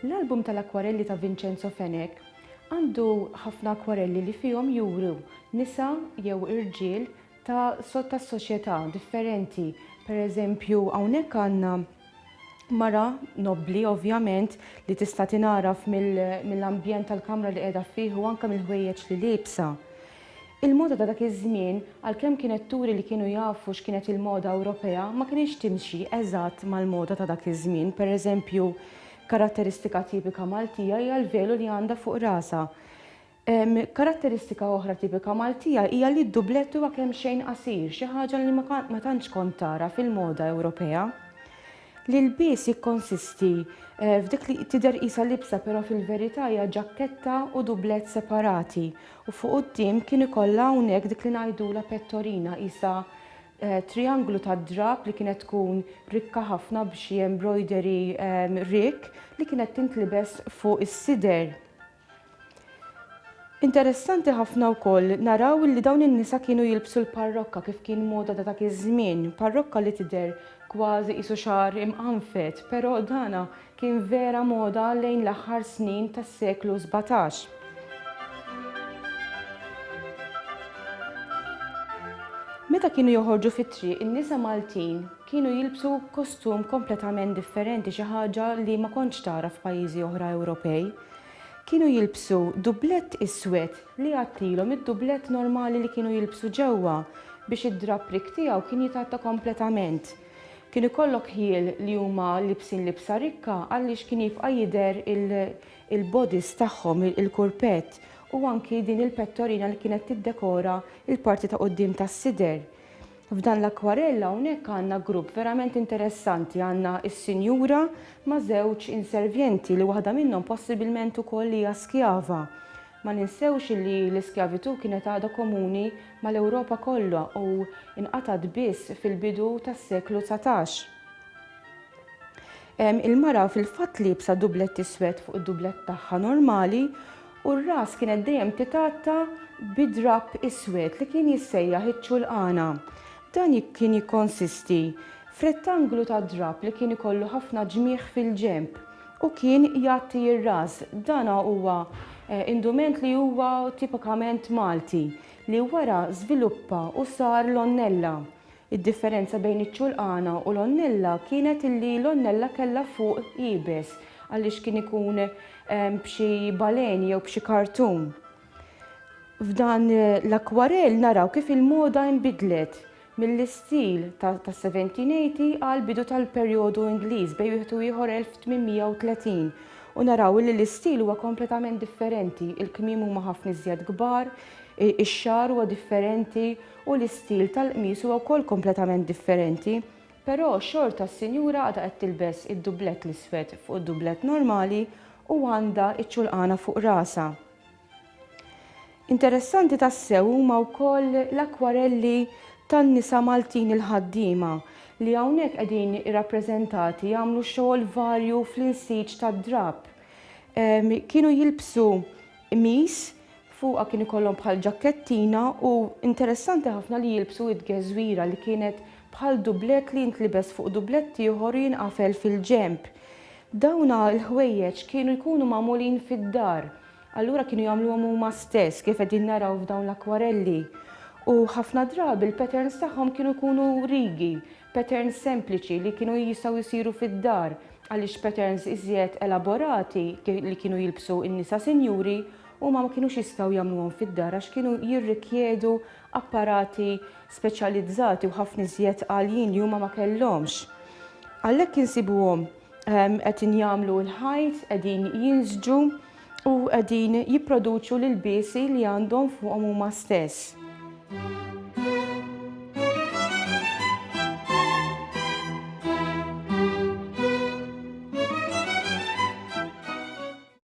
L-album tal-akkwarelli ta' Vincenzo Fenech għandu ħafna akkwarelli li fihom juru nisa jew irġiel ta' sottassoċjetà differenti. Pereżempju, hawnhekk għandna mara nobbli ovvjament li tista' tingħaraf mill-ambjent tal-kamra li qiegħda fih u anke mill-ħwejjeġ li liebsa. Il-moda ta' dak iż-żmien, għalkemm kienet turi li kienu jafu x'kienet il-moda Ewropea, ma kinitx timxi eżatt mal-moda ta' dak iż-żmien. Pereżempju, karatteristika tipika Maltija hija l-velu li għandha fuq rasha. Karatteristika oħra tipika Maltija hija li d-dublett huwa kemxejn qasir, xi ħaġa li ma tantx kont tara fil-moda Ewropea. L-ilbies jikkonsisti f'dik li tidher qisha libsa però fil-verità hija ġakketta u dublett separati u fuq quddiem kien ikollha hawnhekk dik li ngħidulha pettorina qisha trijanglu tad-drapp li kienet tkun rikka ħafna b'xi embroidery rikk li kienet tintlibes fuq is-sider. Interessanti ħafna wkoll naraw li dawn in-nisa kienu jilbsu l-parrokka kif kien moda ta' dak iż-żmien, parrokka li tidher kważi qisu xagħar imqanfet, però dana kien vera moda lejn l-aħħar snin tas-seklu sbatax. Meta kienu joħorġu fit-triq, in-nisa Maltin kienu jilbsu kostum kompletament differenti, xi ħaġa li ma kontx tara f'pajjiżi oħra Ewropej. Kienu jilbsu dublett iswed li jgħattilhom id-dublett normali li kienu jilbsu ġewwa biex id-drapprik tiegħu kien jitgħatta kompletament. Kien ikollok ħjiel li huma libsin libsa rikka għaliex kien jibqa' jidher il-bodies tagħhom, il-kurpett u anki din il-pettorina li kienet tiddekora l-parti ta' quddiem tas-sider. F'dan l-akkwarell hawnhekk għandna grupp verament interessanti, għandna s-sinjura ma' żewġ inservjenti li waħda minnhom possibilment ukoll hija skjava. Ma ninsewx li l-iskjavitù kienet għada komuni mal-Ewropa kollha u nqatgħet biss fil-bidu tas-seklu dsatax. Il-mara fil-fatt liebsa dublett iswed fuq id-dublett tagħha normali u r-ras kienet dejjem titgħatta bi drapp iswed li kien jissejjaħ iċ-ċulqana. Dan kien jikkonsisti f'rettanglu ta' drapp li kien ikollu ħafna ġmigħ fil-ġenb u kien jgħatti r-ras. Dan huwa indument li huwa tipikament Malti li wara żviluppa u sar l-onnella. Id-differenza bejn iċ-ċulqana u l-onnella kienet illi l-onnella kellha fuq iebes għaliex kien ikun b'xi baleni jew b'xi kartun. F'dan l-akkwarell naraw kif il-moda inbidlet mill-istil tas-1780 għall-bidu tal-perjodu Ingliż bejn wieħed u ieħor 1830 u naraw illi l-istil huwa kompletament differenti, il-kmiem huma ħafna iżjed kbar, ix-xagħar huwa differenti, u l-istil tal-qmis huwa wkoll kompletament differenti, però xorta s-sinjura għadha qed tilbes id-dublett l-iswed fuq id-dublett normali u għandha ċ-ċulqana fuq rasha. Interessanti tassew huma wkoll l-akkwarelli tan-nisa Maltin il-ħaddiema li hawnhekk qegħdin irrappreżentati jagħmlu xogħol varju fl-insiġ tad-drapp. Kienu jilbsu qmis Fuqha kien ikollhom bħal ġakkettina u interessanti ħafna li jilbsu id-geżwira li kienet bħal dublett li jintlibes fuq dublett ieħor u jinqafel fil-ġenb. Dawna l-ħwejjeġ kienu jkunu magħmulin fid-dar, allura kienu jagħmluhom huma stess kif qegħdin naraw f'dawn l-akkwarelli. U ħafna drabi l-patterns tagħhom kienu jkunu rigi, patterns sempliċi li kienu jistgħu jsiru fid-dar għaliex patterns iżjed elaborati li kienu jilbsu n-nisa sinjuri Huma ma kinux jistgħu jagħmluhom fid-dar għax kienu jirrikjedu apparati speċjalizzati u ħafna iżjed għaljin li huma ma kellhomx. Għalhekk insibuhom ehm, qed injagħmlu l-ħajt, qegħdin jinżġu u qegħdin jipproduċu l-ilbiesi li għandhom fuqhom huma stess.